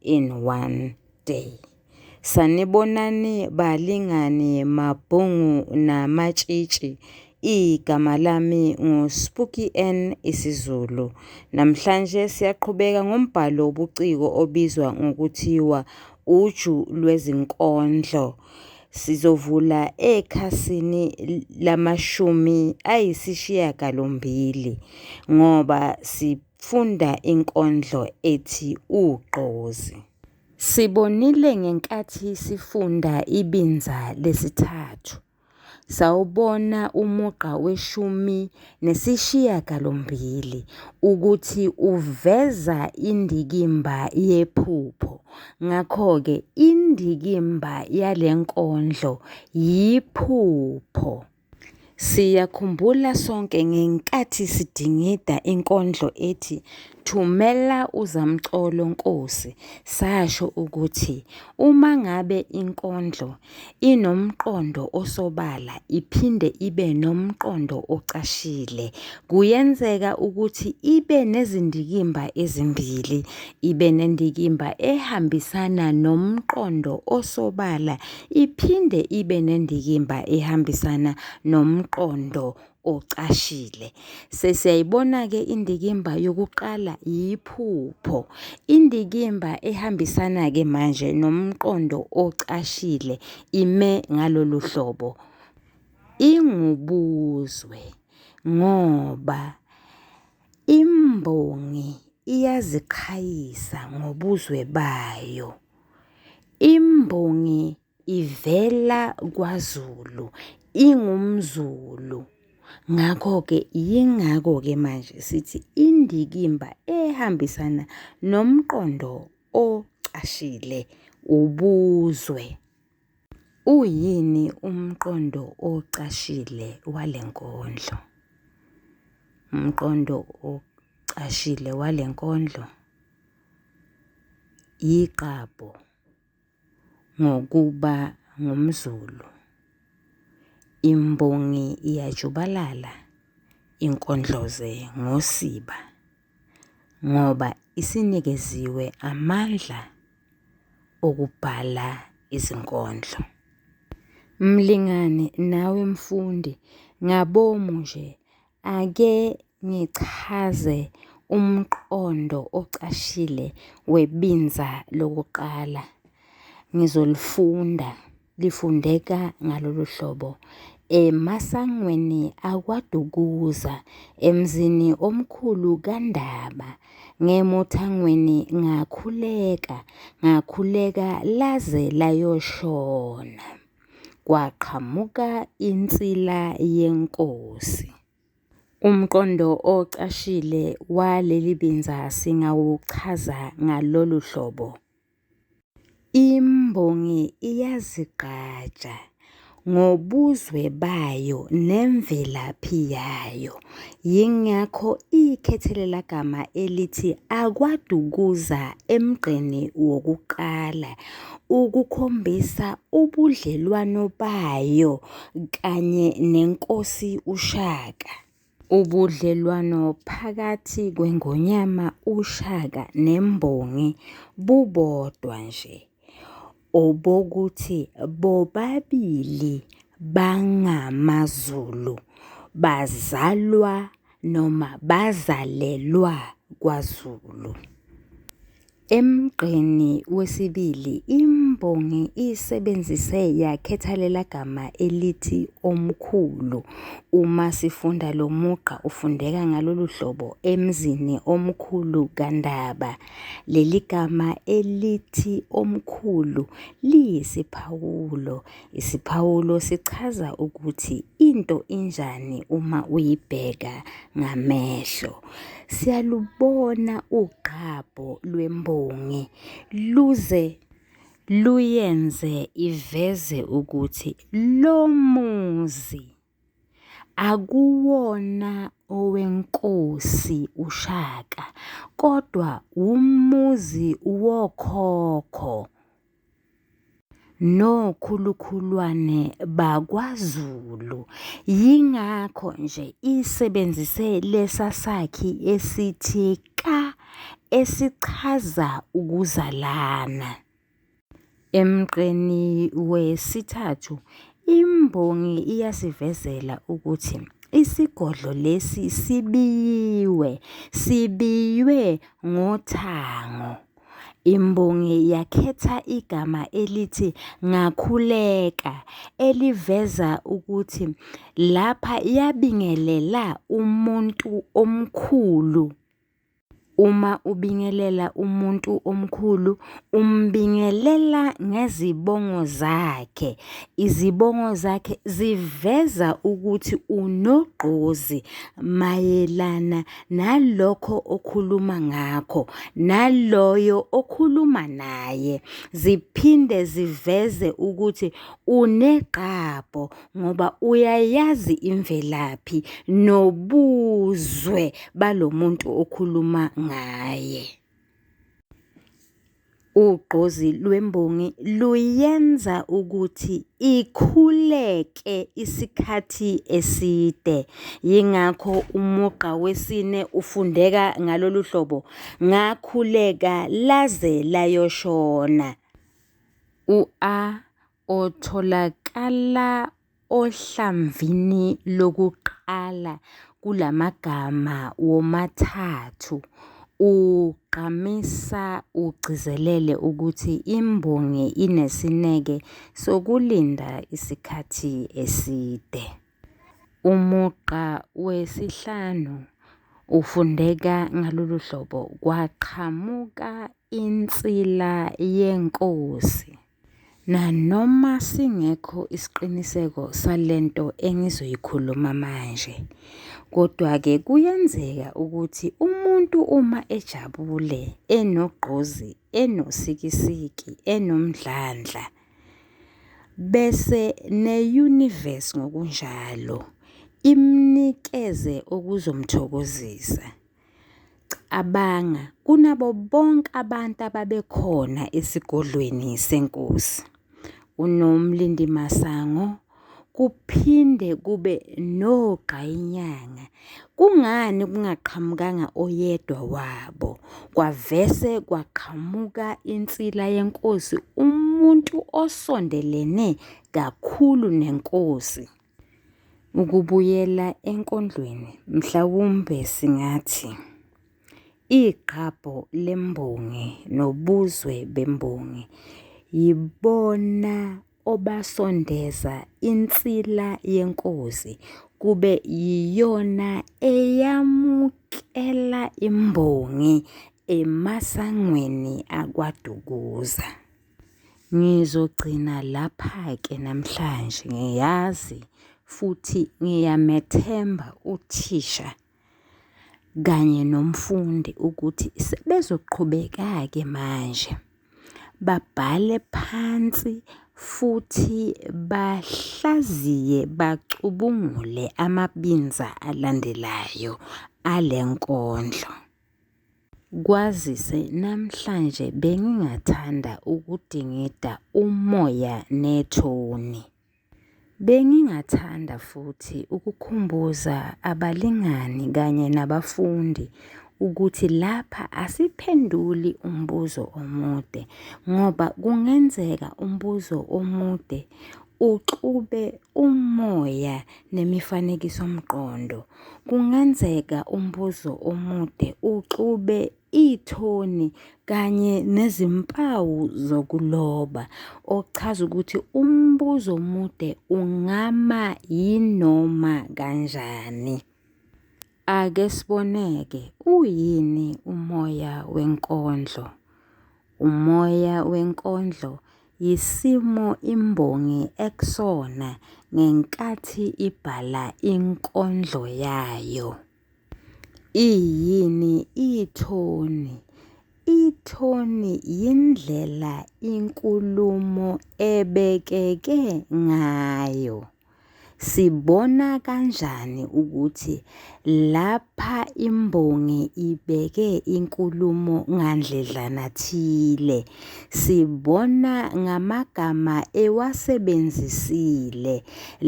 in one day. Sanibonani balingani mabhungu namatshitshi. Igama lami nguSpooky N isiZulu. Namhlanje siyaqhubeka ngombhalo wobuciko obizwa ngokuthiwa uju lwezinkondlo. Sizovula ekhasini lamashumi ayisishiyagalombili ngoba si Funda inkondlo ethi Ugqozi. Sibonile ngenkathi sifunda ibinza lesithathu. Sawubona umugqa weshumi nesishiyagalombili ukuthi uveza indikimba yephupho. Ngakho-ke indikimba yale nkondlo yiphupho. Siyakhumbula sonke ngenkathi sidingida inkondlo ethi Thumela uZamcolo Nkosi sasho ukuthi uma ngabe inkondlo inomqondo osobala iphinde ibe nomqondo ocashile kuyenzeka ukuthi ibe nezindikimba ezimbili, ibe nendikimba ehambisana nomqondo osobala Iphinde ibe nendikimba ehambisana nomqondo ocashile. Sesiyayibona-ke indikimba yokuqala yiphupho. Indikimba ehambisana-ke manje nomqondo ocashile ime ngalolu hlobo. Ingubuzwe ngoba imbongi iyaziqhayisa ngobuzwe bayo. Imbongi ivela kwaZulu, ingumZulu. Ngakho-ke yingakho-ke manje sithi indikimba ehambisana nomqondo ocashile ubuzwe. Uyini umqondo ocashile wale nkondlo? Umqondo ocashile wale nkondlo yiqabho ngokuba ngumZulu. Imbongi iyajubalala inkondloze ngosiba. ngoba isinikeziwe amandla okubhala izinkondlo. Mlingane nawe mfundi ngabomu nje ake ngichaze umqondo ocashile webinza lokuqala ngizolifunda. lifundeka ngalolu hlobo emasangweni akwaDukuza emzini omkhulu kaNdaba ngemuthangweni ngakhuleka ngakhuleka laze layoshona kwaqhamuka insila yenkosi Umqondo ocashile waleli binza singawuchaza ngalolu hlobo. Imbongi iyazigqaja ngobuzwe bayo nemvelaphi yayo yingakho ikhethelelagama elithi akwaDukuza emgqeni wokuqala ukukhombisa ubudlelwano bayo kanye neNkosi uShaka. Ubudlelwano phakathi kweNgonyama uShaka nembongi bubodwa nje, obokuthi bobabili bangamaZulu, bazalwa noma bazalelwa kwaZulu. Emgqeni wesibili imbongi isebenzise yakhethalelagama elithi omkhulu. Uma sifunda lo mugqa ufundeka ngalolu hlobo emzini omkhulu kaNdaba. Leli gama elithi omkhulu liyisiphawulo Isiphawulo sichaza ukuthi into injani uma uyibheka ngamehlo. Siyalubona ugqabho lwembongi luze luyenze iveze ukuthi lo muzi akuwona owenkosi uShaka kodwa wumuzi wokhokho. nokhulukhulwane bakwaZulu. Yingakho nje isebenzise lesa sakhi esithi ka esichaza ukuzalana. Emgqeni wesithathu imbongi iyasivezela ukuthi isigodlo lesi sibiyiwe, sibiywe ngothango. Imbongi yakhetha igama elithi ngakhuleka eliveza ukuthi lapha yabingelela umuntu omkhulu. Uma ubingelela umuntu omkhulu umbingelela ngezibongo zakhe, izibongo zakhe ziveza ukuthi unogqozi mayelana nalokho okhuluma ngakho naloyo okhuluma naye ziphinde ziveze ukuthi unegqabho ngoba uyayazi imvelaphi nobuzwe balomuntu okhuluma ngaye. Ugqozi lwembongi luyenza ukuthi ikhuleke isikhathi eside. Yingakho umugqa wesine ufundeka ngalolu hlobo, ngakhuleka laze layoshona. U-A otholakala Ohlamvini lokuqala kulamagama womathathu ugqamisa ugcizelele ukuthi imbongi inesineke sokulinda isikhathi eside. Umugqa wesihlanu ufundeka ngalolu hlobo, kwaqhamuka insila yenkosi. Nanoma singekho isiqiniseko sale nto engizoyikhuluma manje, kodwa-ke kuyenzeka ukuthi umuntu uma ejabule, enogqozi, enosikisiki, enomdlandla, bese ne-universe ngokunjalo imnikeze okuzomthokozisa. Cabanga, kunabo bonke abantu ababekhona esigodlweni senkosi, uNomlindimasango kuphinde kube nogqayinyanga. Kungani kungaqhamukanga oyedwa wabo? Kwavese kwaqhamuka insila yenkosi, umuntu osondelene kakhulu nenkosi. Ukubuyela enkondlweni mhlawumbe singathi igqabho lembongi nobuzwe bembongi yibona obasondeza insila yenkosi kube yiyona eyamukela imbongi emasangweni aKwaDukuza. Ngizogcina lapha-ke namhlanje ngiyazi futhi ngiyamethemba uthisha kanye nomfundi ukuthi sebezoqhubeka-ke manje babhale phansi futhi bahlaziye bacubungule amabinza alandelayo ale nkondlo. Kwazise namhlanje bengingathanda ukudingida umoya nethoni. Bengingathanda futhi ukukhumbuza abalingani kanye nabafundi ukuthi lapha asiphenduli umbuzo omude ngoba kungenzeka umbuzo omude Uxube umoya nemifanekisomqondo. Kungenzeka umbuzo omude uxube ithoni kanye nezimpawu zokuloba okuchaza ukuthi umbuzo omude ungama yinoma kanjani. Ake siboneke uyini umoya wenkondlo. Umoya wenkondlo yisimo imbongi ekusona ngenkathi ibhala inkondlo yayo. Iyini ithoni? Ithoni yindlela inkulumo ebekeke ngayo. Sibona kanjani ukuthi lapha imbongi ibeke inkulumo ngandledlana thile? Sibona ngamagama ewasebenzisile.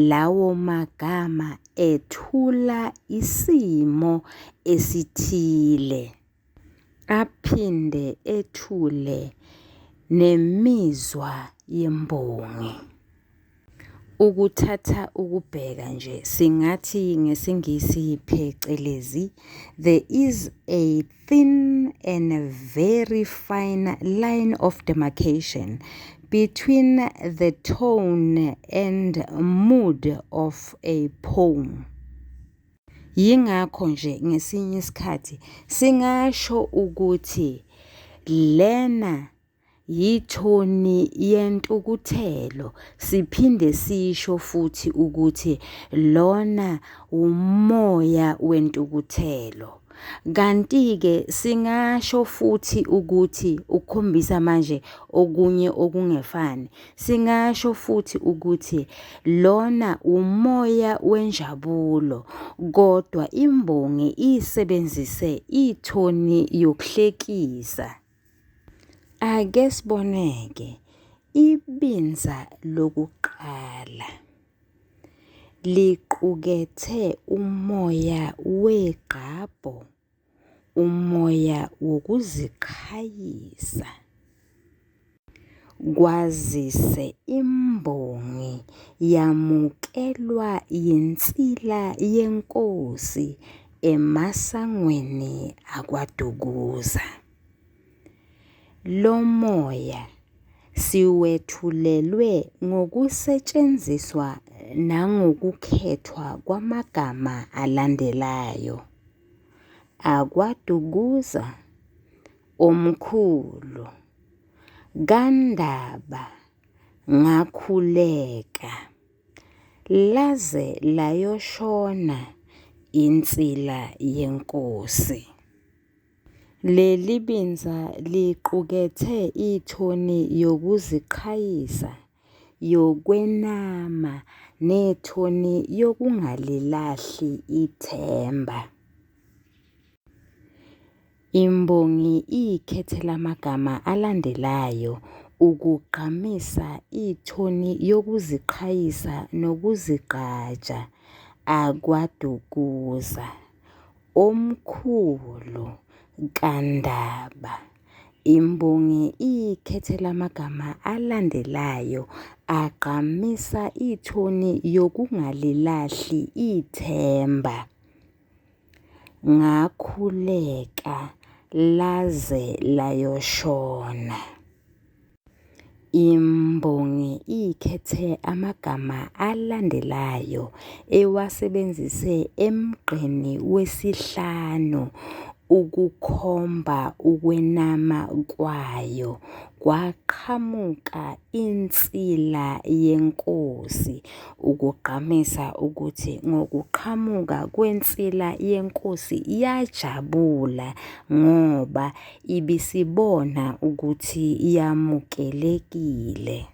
Lawo magama ethula isimo esithile. aphinde ethule nemizwa yembongi. Ukuthatha ukubheka nje singathi ngesiNgisi phecelezi there is a thin and a very fine line of demarcation between the tone and mood of a poem. Yingakho nje ngesinye isikhathi singasho ukuthi lena yithoni yentukuthelo siphinde sisho futhi ukuthi lona wumoya wentukuthelo. Kanti-ke singasho futhi ukuthi ukhombisa manje okunye okungefani, Singasho futhi ukuthi lona umoya wenjabulo, kodwa imbongi isebenzise ithoni yokuhlekisa. Ake siboneke ibinza lokuqala liqukethe umoya wegqabho. umoya wokuziqhayisa kwazise imbongi yamukelwa yinsila yenkosi emasangweni akwaDukuza. Lo moya siwethulelwe ngokusetshenziswa nangokukhethwa kwamagama alandelayo. akwaDukuza omkhulu kaNdaba ngakhuleka laze layoshona insila yenkosi. Leli binza liqukethe ithoni yokuziqhayisa yokwenama nethoni yokungalilahli ithemba. Imbongi ikhethe lamagama alandelayo ukugqamisa ithoni yokuziqhayisa nokuzigqaja akwaDukuza, omkhulu kaNdaba. Imbongi ikhethe lamagama alandelayo agqamisa ithoni yokungalilahli ithemba. Ngakhuleka laze layoshona. Imbongi ikhethe amagama alandelayo ewasebenzise emgqeni wesihlanu ukukhomba ukwenama kwayo. Kwaqhamuka insila yenkosi ukugqamisa ukuthi ngokuqhamuka kwensila yenkosi yajabula ngoba Ibisibona ukuthi yamukelekile.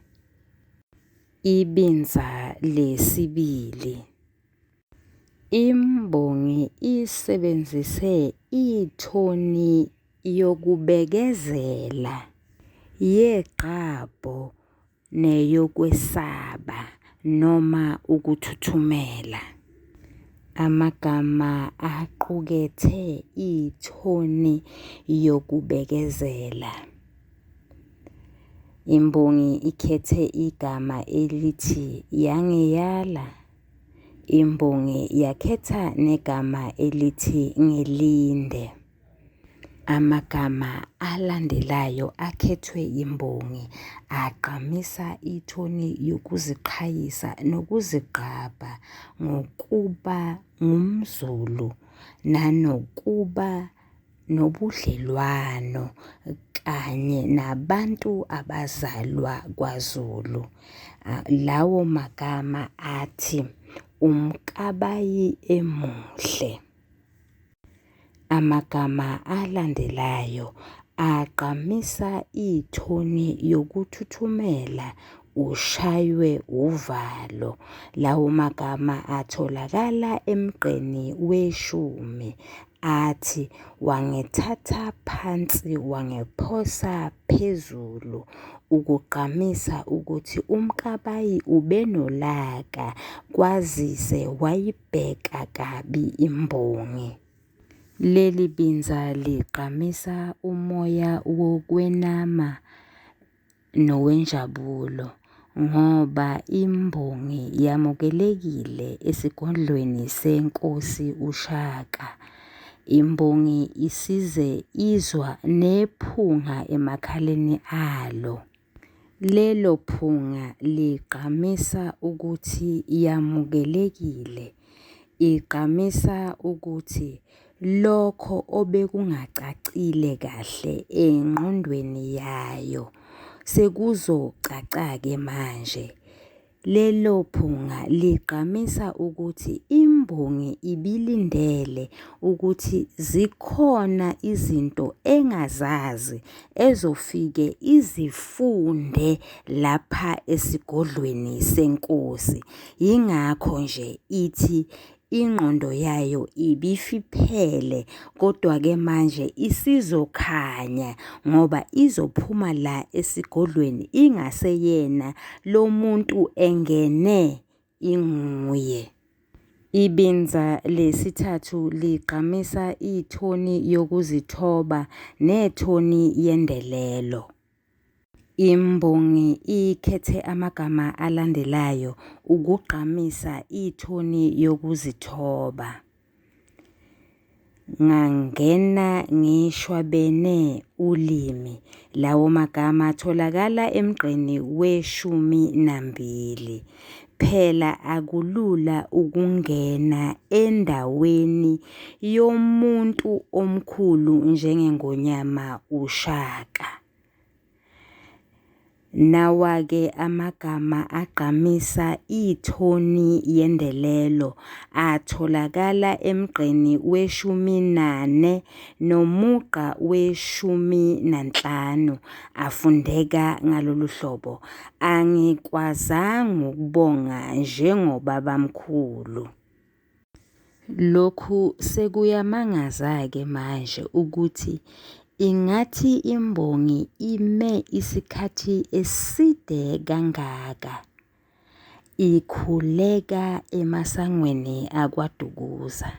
Ibinza lesibili. Imbongi isebenzise ithoni yokubekezela yegqabho neyokwesaba noma ukuthuthumela. Amagama aqukethe ithoni yokubekezela. Imbongi ikhethe igama elithi yangiyala. Imbongi yakhetha negama elithi ngilinde. Amagama alandelayo akhethwe yimbongi agqamisa ithoni yokuziqhayisa nokuzigqabha ngokuba ngumZulu nanokuba nobudlelwano kanye nabantu abazalwa kwaZulu. Lawo magama athi, uMkabayi emuhle. Amagama alandelayo agqamisa ithoni yokuthuthumela ushaywe uvalo. Lawo magama atholakala emgqeni weshumi athi wangithatha phansi wangiphosa phezulu ukugqamisa ukuthi uMkabayi ubenolaka kwazise wayi Bheka kabi imbongi. Leli binza ligqamisa umoya wokwenama nowenjabulo ngoba imbongi yamukelekile esigodlweni senkosi uShaka. Imbongi isize izwa nephunga emakhaleni alo. Lelo phunga ligqamisa ukuthi yamukelekile, igqamisa ukuthi lokho obekungacacile kahle engqondweni yayo sekuzocaca-ke manje. Lelo phunga ligqamisa ukuthi imbongi ibilindele ukuthi zikhona izinto engazazi ezofike izifunde lapha esigodlweni senkosi. Yingakho nje ithi ingqondo yayo ibifiphele kodwa ke manje isizokhanya ngoba izophuma la esigodlweni ingaseyena lo muntu engene inguye. Ibinza lesithathu ligqamisa ithoni yokuzithoba nethoni yendelelo. Imbongi ikhethe amagama alandelayo ukugqamisa ithoni yokuzithoba. Ngangena ngishwabene ulimi. Lawo magama atholakala emgqeni weshumi nambili. Phela akulula ukungena endaweni yomuntu omkhulu njengeNgonyama uShaka. Nawa-ke amagama agqamisa ithoni yendelelo atholakala emgqeni weshumi nane nomugqa weshumi nanhlanu afundeka ngalolu hlobo, Angikwazanga ukubonga njengobabamkhulu. Lokhu sekuyamangaza-ke manje ukuthi ingathi imbongi ime isikhathi eside kangaka ikhuleka emasangweni aKwaDukuza.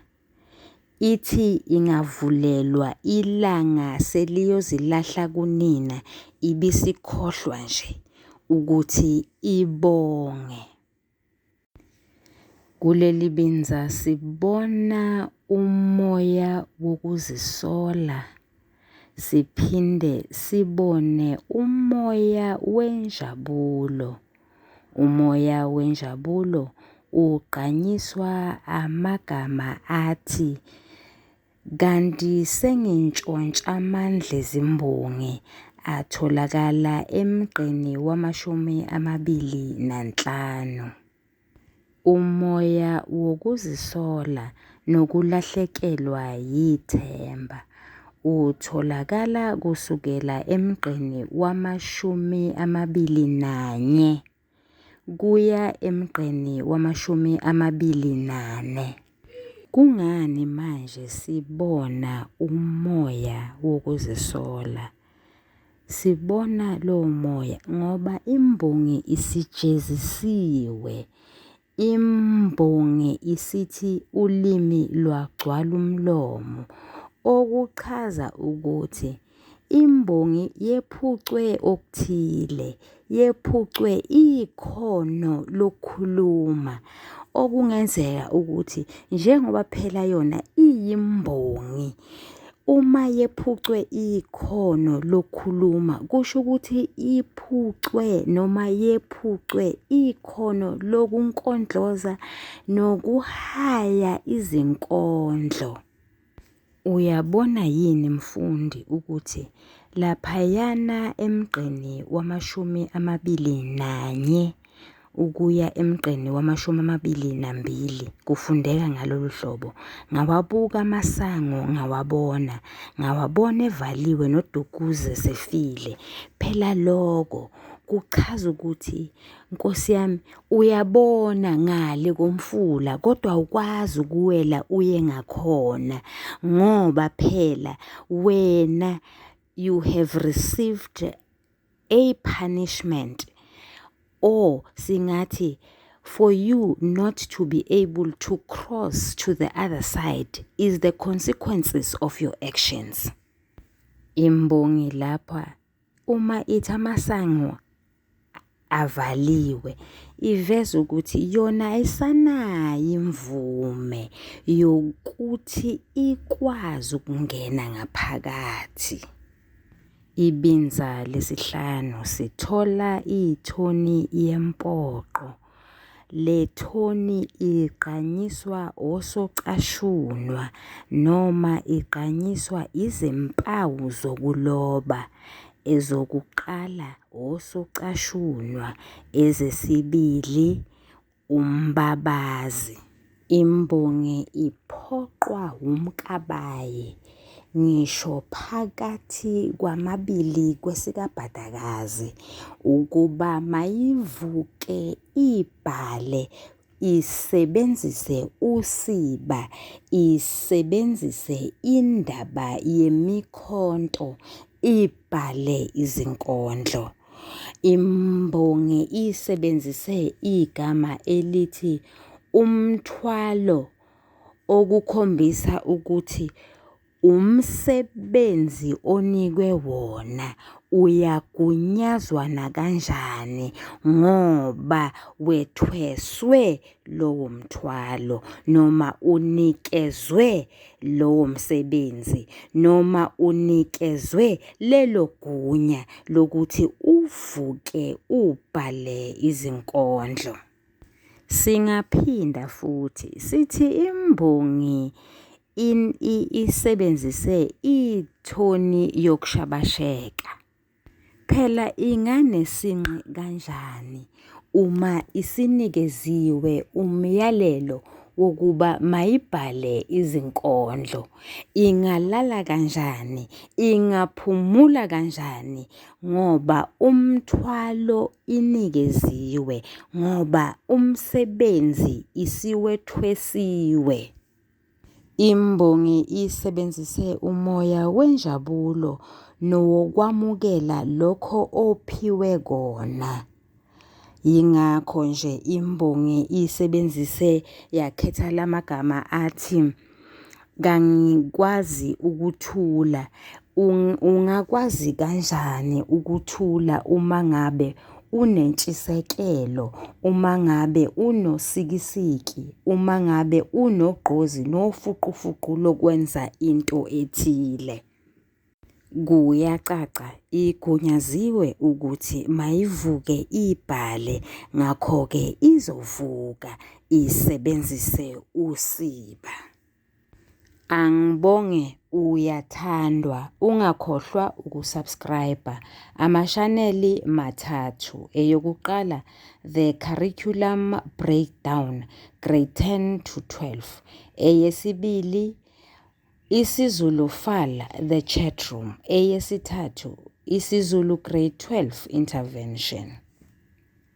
Ithi ingavulelwa ilanga seliyozilahla kunina ibisikhohlwa nje ukuthi ibonge. Kuleli binza sibona umoya wokuzisola. siphinde sibone umoya wenjabulo. Umoya wenjabulo ugqanyiswa amagama athi kanti sengintshontsha amandla ezimbongi atholakala emgqeni wamashumi amabili nanhlanu. Umoya wokuzisola nokulahlekelwa yithemba utholakala kusukela emgqeni wama-21 kuya emgqeni wama-24. Kungani manje sibona umoya wokuzisola? Sibona lowo moya ngoba imbongi isijezisiwe. Imbongi isithi ulimi lwagcwala umlomo, okuchaza ukuthi imbongi yephucwe okuthile. yephucwe ikhono lokukhuluma okungenzeka ukuthi njengoba phela yona iyimbongi uma yephucwe ikhono lokukhuluma kusho ukuthi iphucwe noma yephucwe ikhono lokunkondloza nokuhaya izinkondlo. Uyabona yini mfundi ukuthi laphayana emgqeni wamashumi amabili nanye ukuya emgqeni wamashumi amabili nambili kufundeka ngalolu hlobo. Ngawabuka amasango ngawabona, ngawabona evaliwe nodukuze sefile. Phela loko kuchaza ukuthi nkosi yami Uyabona ngale komfula kodwa awukwazi ukuwela uye ngakhona ngoba phela wena you have received a punishment or singathi for you not to be able to cross to the other side is the consequences of your actions. Imbongi lapha Uma ithi amasango avaliwe iveza ukuthi yona ayisanayo imvume yokuthi ikwazi ukungena ngaphakathi. Ibinza lesihlanu sithola ithoni yempoqo. Le thoni igqanyiswa osocashunwa noma igqanyiswa izimpawu zokuloba, ezokuqala osocashunwa, ezesibili umbabazi. Imbongi iphoqwa wumkabayi ngisho phakathi kwamabili kwesikabhadakazi ukuba mayivuke ibhale isebenzise usiba, isebenzise indaba yemikhonto ibhale izinkondlo. Imbongi isebenzise igama elithi umthwalo okukhombisa ukuthi umsebenzi onikwe wona uyagunyazwa nakanjani ngoba wethweswe lowo mthwalo noma unikezwe lowo msebenzi noma unikezwe lelo gunya lokuthi uvuke ubhale izinkondlo. Singaphinda futhi sithi imbongi in, i, isebenzise ithoni yokushabasheka. Phela inganesinqe kanjani uma isinikeziwe umyalelo wokuba mayibhale izinkondlo? Ingalala kanjani? Ingaphumula kanjani? Ngoba umthwalo inikeziwe, ngoba umsebenzi isiwethwesiwe. Imbongi isebenzise umoya wenjabulo nowokwamukela lokho ophiwe kona. Yingakho nje imbongi isebenzise yakhetha lamagama athi kangikwazi ukuthula Ungakwazi kanjani ukuthula uma ngabe unentshisekelo, uma ngabe unosikisiki, uma ngabe unogqozi nofuqufuqu lokwenza into ethile? Kuyacaca igunyaziwe ukuthi mayivuke ibhale ngakho-ke izovuka isebenzise usiba. Angibonge uyathandwa ungakhohlwa ukusubscribe amashaneli mathathu eyokuqala the curriculum breakdown grade 10 to 12 eyesibili isiZulu fal the chat room eyesithathu isiZulu grade 12 intervention